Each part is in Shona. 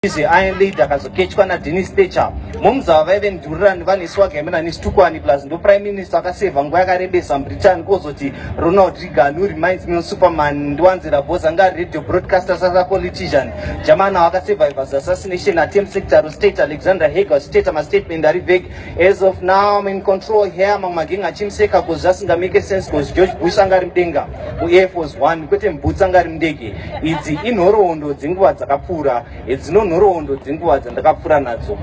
izvi iron lady akazokechwa nadini stecha moms ava vaive mdurirani vane swag yamena nesitukwani plus ndo prime minister akaseva nguva yakarebesa mubritain kozoti ronald regan who reminds me superman ndiwanzira bos anga ari radio broadcaster sasa politician jamana wakasurvive as assassination attempt sector state alexander hager state mastatement ari veg As of now, I'm in control here. Mama King achimseka because just nga make sense because George Bush anga ari mudenga ku Air Force One kwete mbutsa anga ari mudege. Idzi inhoroondo dzenguva dzakapfuura, hedzino nhoroondo dzenguva dzandakapfuura nadzo.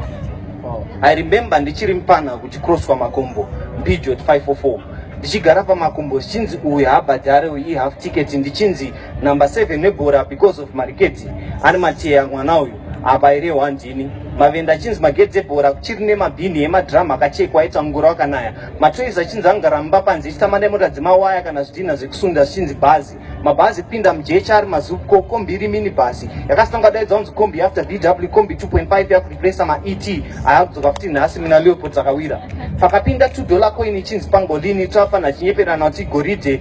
Oh. I remember ndichiri mupana kuchikroswa makombo Peugeot 544 ndichigara pamakombo zvichinzi uyu habhadhare uyu ihalf ticket ndichinzi number 7 nebhora because of mariketi ane mateya mwana uyu apa iri hwandini mavenda achinzi magedhi ebhora kuchiri nemabhini emadhiramu akachekwa aita ngura wakanaya matoizi achinzi angaramba panze echitama nemota dzemawaya kana zvidhina zvekusunda zvichinzi bhazi mabhazi pinda mujecha ari mazuko kombi iri mini bhasi yakasitanga daidza unzi kombi after dw kombi 2.5 yakureplesa maet ayakudzoka futi nhasi mina leopod dzakawira pakapinda 2 dollar coin ichinzi pangolini tafana chinyeperana kuti goridhe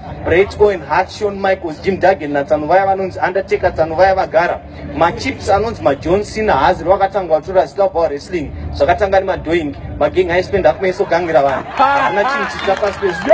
Brett Owen, Hart, Shawn Michaels, Jim Duggan natsano vaya vanonzi Undertaker tsano vaya vagara machips anonzi majohn cena haazi rwakatanga watora zita kubva wrestling zvakatanga nemadoing magengi aispenda akumaisogangira vanhu havana chinhu chitsa pasi pezvo